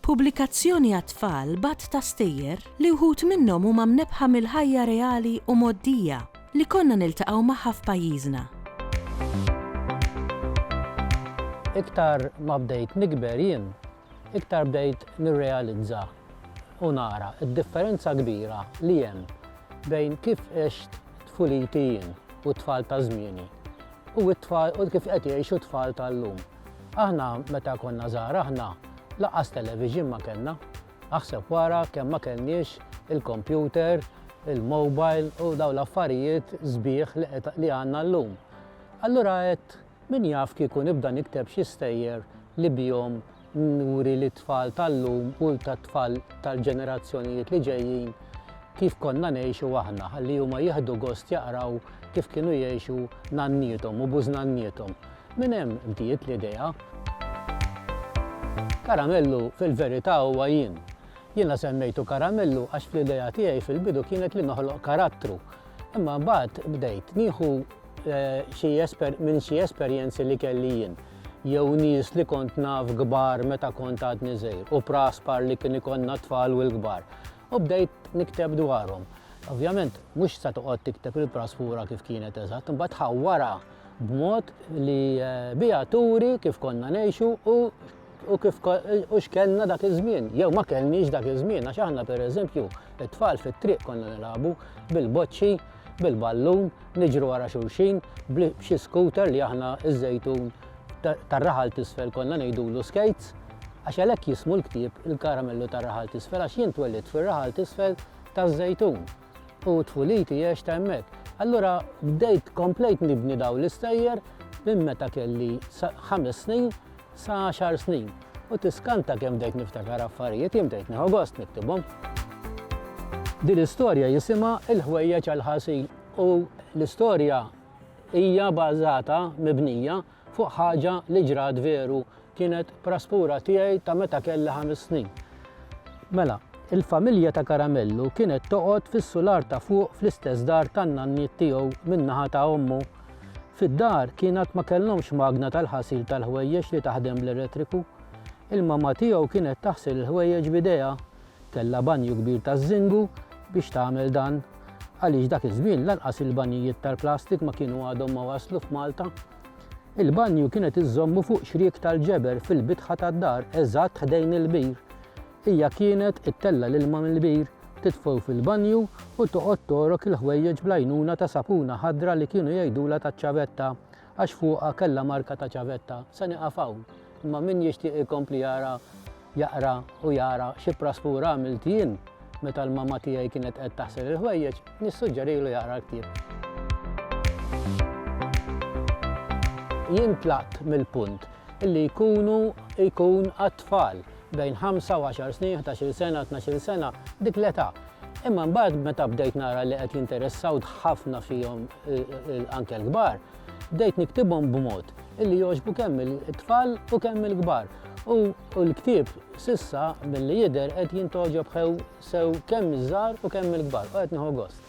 Pubblikazzjoni għat-tfal b'għadd ta' stejjer li wħud minnhom huma mnebbħa mill-ħajja reali u mgħoddija li konna niltaqgħu magħha f'pajjiżna. Iktar ma bdejt nikber jien, iktar bdejt nirrealizza u nara d-differenza kbira li hemm bejn kif għext tfuliti jien u t-tfal ta' żmieni u kif qed jgħixu t-tfal tal-lum. Aħna meta konna żgħar aħna lanqas television ma kellna. Aħseb wara kemm ma kellniex il-kompjuter, il-mobile u dawn l-affarijiet sbieħ li għandna llum. Allura għedt min jaf kieku nibda nikteb xi stejjer li bihom nuri lit-tfal tal-lum u tat-tfal tal-ġenerazzjonijiet li ġejjin kif konna ngħixu aħna ħalli huma jieħdu gost jaqraw kif kienu jgħixu nanniethom u bużnanniethom. Minn hemm bdiet l-idea. Karamellu fil-verità huwa jien. Jiena semmejtu Karamellu għax fl-idea tiegħi fil-bidu kienet li noħloq karattru. Imma mbagħad bdejt nieħu xi minn xi esperjenzi li kelli jien, jew nies li kont naf kbar meta kont għadni żgħir u praspar li kien ikollna t-tfal u l-kbar, u bdejt nikteb dwarhom. Ovvjament, mhux se toqgħod tikteb il-praspura kif kienet eżatt, imbagħad tħawwarha. b'mod li biha turi kif konna ngħixu u u kif u x'kellna dak iż-żmien, jew ma kellniex dak iż-żmien, għax aħna pereżempju it-tfal fit-triq konna nilagħbu bil-boċċi, bil-ballun, niġru wara xulxin, b'xi scooter li aħna ż-żejtun tar-raħal t'isfel konna ngħidulu skates, għax għalhekk jismu l-ktieb Il-Karamellu tar-Raħal t'Isfel għax jien twellidt fir-raħal t'isfel taż-żejtun. u tfuliti għextha hemmhekk. Allura bdejt komplejt nibni dawn l-istejjer minn meta kelli ħames snin sa għaxar snin u tiskanta kemm bdejt niftakar affarijiet jien bdejt nieħu gost niktibhom. Din l-istorja jisimha Il-ħwejjeġ għall-ħasil u l-istorja hija bażata mibnija fuq ħaġa li ġrat veru, kienet praspura tiegħi ta' meta kelli ħames snin. Mela, il-familja ta' Karamellu kienet toqgħod fis-sular ta' fuq fl-istess dar tan-nanniet tiegħu min-naħa ta' ommu. Fid-dar kien għad ma kellhomx magna tal-ħasil tal-ħwejjeġ li taħdem bl-elettriku. Il-mamma tiegħu kienet taħsil il-ħwejjeġ b'idejha. Kellha banju kbir taż-żingu biex tagħmel dan għaliex dak iż-żmien lanqas il-banjijiet tal-plastik ma kienu għadhom ma waslu f'Malta. Il-banju kienet iżżommu fuq xriek tal-ġeber fil-bitħa tad-dar eżatt ħdejn il-bir. Hija kienet ittella' l-ilma mill-bir, tidfgħu fil-banju u toqgħod togħrok il-ħwejjeġ bl-għajnuna ta' sapuna ħadra li kienu jgħidulha taċ-ċavetta għax fuqha kellha marka ta' ċavetta. Se nieqaf hawn, imma min jixtieq ikompli jara jaqra u jara xi praspur għamilt jien meta l-mamma tiegħi kienet qed taħsel il-ħwejjeġ, nissuġġerilu jaqra l-ktieb. Jien tlaqt mill-punt li jkunu jkun għat-tfal bejn ħamsa u għaxar snin, ħdax-il sena, tnax-il sena, dik l-età Imma mbagħad meta bdejt nara li qed jinteressaw ħafna fihom anke l-kbar, bdejt niktibhom b'mod illi jogħġbu kemm il-tfal u kemm il-kbar. U l-ktieb sissa milli jidher qed jintoġob sew kemm iż-żgħar u kemm il-kbar u qed nieħu gost.